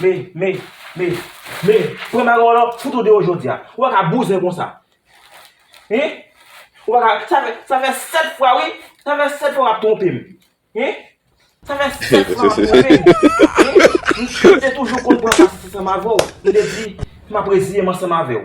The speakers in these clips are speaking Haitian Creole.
Me, me, me, me, pran bagay w lan, fout ou deyò jodi a. Ou pa ka bouzen konsa. Hein? Ou pa ka, sa fè, sa fè 7 fwa wi, sa fè 7 fwa w ap twonpe m. Hein? Sa fè 7 fwa w ap twonpe m. Hein? M te toujou konn pran sa ansanm avè w. M te di, m ap reziye m ansanm avè w.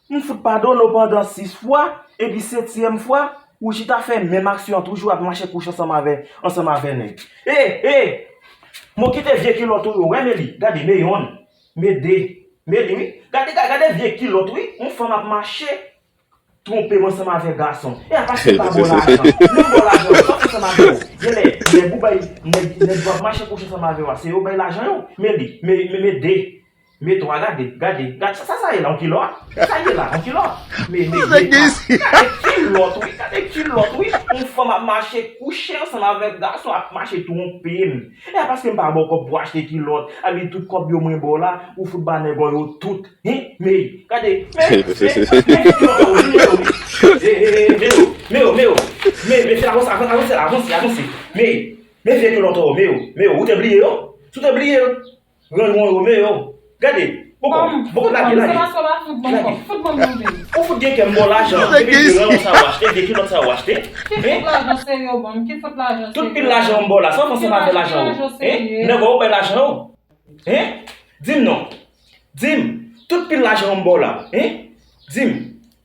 M fout padone w pandan 6 fwa, epi setyèm fwa, ou chita fè menm aksyon an toujou ap mache kouche ansanm avè ansanm avè nèg. E! E! M o kite vye kilòt ou yo wè me li, gade me yonn, me 2, me li wi, gade ga gade vye kilòt wi, yon fanm ap mache twonpe m ansanm avè gason. E a paske l pa ba w lajan, lè l ba w lajan yo, sa w fè ansanm avè yo? Genlè nèg ou bay, nèg nèg yo ap mache kouche ansanm avè yo a se yo bay lajan yo? Me li, me me 2. Me 3 gade gade gad sa sa ye la yon kilòt sa ye la yon kilòt me me 2 gade kilòt wi gade kilòt wi yon fanm ap mache kouche ansanm avèk gason ap mache twonpem e a paskem pa baw kòb pou achte kilòt abi tout kòb yo mwen baw la ou fout ba nèg ò yo tout hi me gade me me me gade kilòt la ou jwenn yo wi e e e me o me o me o me mesye avanse avanse la avanse avanse me me vye kilòt ò me o me o ou te bliye yo si w te bliye yo Renmon Romeo Gade Boko Boko lage lage Lage Ou fout gen kè m bon lajan Depi m gen Renmon sa ou achte Gen kilòt sa ou achte Hein Tout pil lajan ou m ba w la Sa ou panse m ap fè lajan ou Hein Nèg ou bay lajan ou Hein Di m non Di m Tout pil lajan ou m ba w la Hein Di m.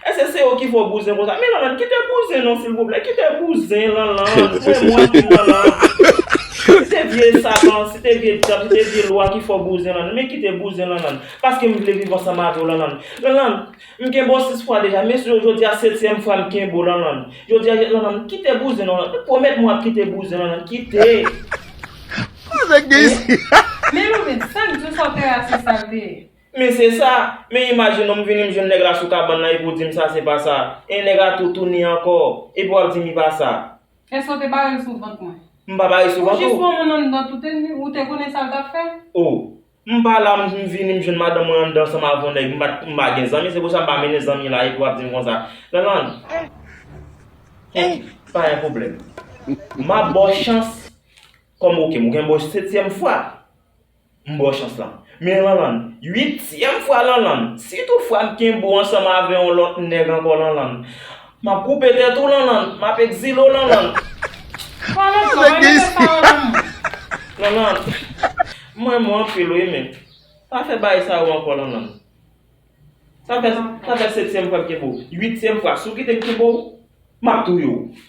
Eske se ou ki fè w bouzen konsa. Men Lanlann kite bouzen non silvouplè kite bouzen Lanlann frè mwen di Lanlann si se vye satan si te vye dyab si te vye lwa ki fè w bouzen Lanlann men kite bouzen Lanlann paske m vle viv ansanm avè w Lanlann Lanlann m kenbe w 6 fwa deja men jodi a setyèm fwa m kenbe w Lanlann jodi a Lanlann kite bouzen non Lanlann pwomèt mwen w ap kite bouzen Lanlann kite. Mwen vle di sa k di w sa w te rasis sa l te ye Men se sa! Men imajin nou m vini m jwenn nèg la sou kabann lan epi w di m sa se pa sa. E nèg la tou tounin ankò. Epi w ap di m li pa sa. Èske w te bare l sou vant mwen? M pa bare l sou vant ou. Ou jis pran moun anndan tout e ou te konnen sa l t ap fè? Oh! M pa la m vini m jwenn madanm mwen anndan ansanm avè w nèg. M pa m pa gen zanmi se pou sa m pa mennen zanmi la epi w ap di m konsa. Lanlann! Heh! Pa gen pwoblèm. M ap ba w chans kòm ou ke m ou gen m ba w setyèm fwa. M baw chans lan. Men Lanlann, uityèm fwa Lanlann, si tout fwa m kenbe w ansanm avè yon lòt nèg ankò Lanlann, m ap koupe tèt ou Lanlann, m ap ekzile w Lanlann. Lanlann, m renmen tèt sa yo nan m. Lanlann, m renmen w anpil wi men, pa fè bagay sa yo ankò Lanlann. Sa fè setyèm fwa m kenbe w, uityèm fwa, si w kite m kenbe w, m ap touye w.